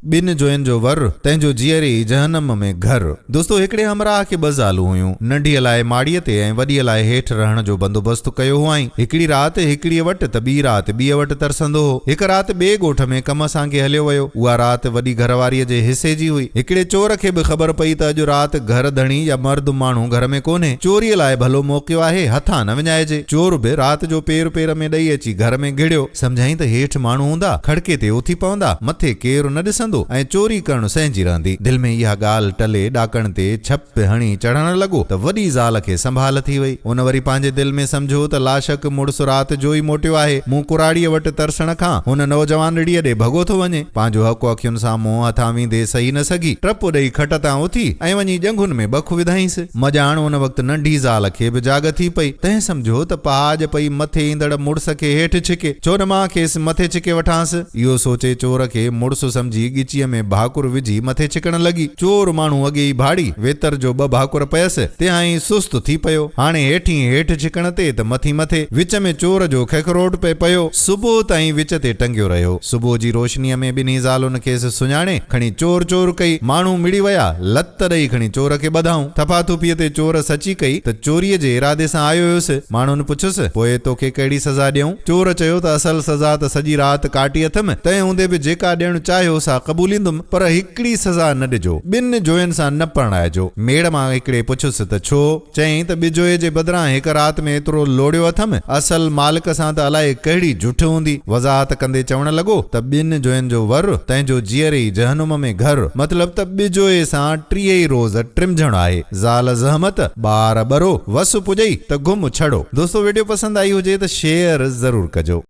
ٻن جوين جو ور، تنهن جو جيئري ئي جهنم ۾ گهر. دوستو هڪڙي همراهه کي ٻه زالون هيون. ننڍيء لاء ماڙيء تي ۽ وڏيء لاء هيٺ رهڻ جو بندوبست ڪيو هئائين. هڪڙي رات هڪڙيء وٽ ته ٻي رات ٻيء وٽ ترسندو هو. هڪ رات ٻئي ڳوٺ ۾ ڪم سانگي هليو ويو. اها رات وڏي گهر واريء جي حصي جي هئي. هڪڙي چور کي به خبر پئي ته اڄ رات گهر ڌڻي يا مرد ماڻهو گهر ۾ ڪونهي. چوريء لاء ڀلو موقعو آهي، هٿان نه وڃائجي. چور به رات جو پير پير ۾ ڏئي اچي گهر ۾ گهڙيو. سمجهائين ته هيٺ ماڻهو هوندا، کڙڪي تي اٿي پوندا، مٿي ڪير نه ڏسندو ۽ چوري ڪرڻ سهنجي رهندي. دل ۾ اها ڳالهه ٽلي ڏاڪڻ تي ڇپ هڻي چڙهڻ لڳو ته وڏي زال کي سنڀال ٿي وئي. ان وري پنهنجي دل ۾ سمجهيو ته لاشڪ مڙس رات جو ئي موٽيو آهي. مون ڪراڙيء وٽ ترسڻ کان هن نوجوانڙيء ڏي ڀڳو ٿو وڃي. پنهنجو حق اکين سان منهن هٿان ويندي سهي نه سگهي، ٽپ ڏئي کٽ تان اٿي ۽ وڃي ڄنگهن ۾ ٻک وڌائينس. مڄاڻ ان وقت ننڍي زال کي به جاڳ ٿي پئي. تنهن سمجهيو ته پهاڄ پئي مٿي ايندڙ مڙس کي هيٺ ڇڪي، ڇو نه مان کيس مٿي ڇڪي وٺانس. اهو سوچي چور کي مڙس سمجهي ڳچيء ۾ ڀاڪر وجهي مٿي ڇڪڻ لڳي. چور ماڻهو اڳي ئي ڀاڙي ويتر جو ٻه ڀاڪر پيس، تيهائين سست ٿي پيو. هاڻي هيٺين هيٺ ڇڪڻ تي ته مٿين مٿي. وچ ۾ چور جو ککروٽ پئي پيو. صبح تائين وچ تي ٽنگيو رهيو. صبح جي روشنيء ۾ ٻنهي زالن کيس سڃاڻي، کڻي چور چور ڪئي. ماڻهو مڙي ويا. لت ڏئي کڻي چور کي ٻڌائون. ٿڦا ٿڦيء تي چور سچي ڪئي ته چوريء جي ارادي سان آيو هيس. ماڻهن پڇيس، پوء توکي ڪهڙي سزا ڏيئون؟ چور چيو ته اصل سزا ته سڄي رات ڪاٽي اٿم، تنهن هوندي به جيڪا ڏيڻ چاهيو سا قبوليندم، پر هڪڙي سزا نه ڏجو، ٻن جوين سان نه پرڻائجو. ميڙ مان هڪڙي پڇيس ته ڇو؟ چيائين ته ٻجوئي جي بدران هڪ رات ۾ ايترو لوڙيو اٿم، اصل مالڪ سان ته الائي ڪهڙي جٺ هوندي. وضاحت ڪندي چوڻ لڳو ته ٻن جوين جو ور، تنهنجو جيئري ئي جهنم ۾ گهر. مطلب ته ٻجوئي سان ٽيئي ئي روز ٽرمجهڻ آهي. زال زحمت، ٻار ٻرو، وس پڄئي ته گم ڇڙو. دوستو وڊيو پسند آئي هجي ته شيئر ضرور ڪجو.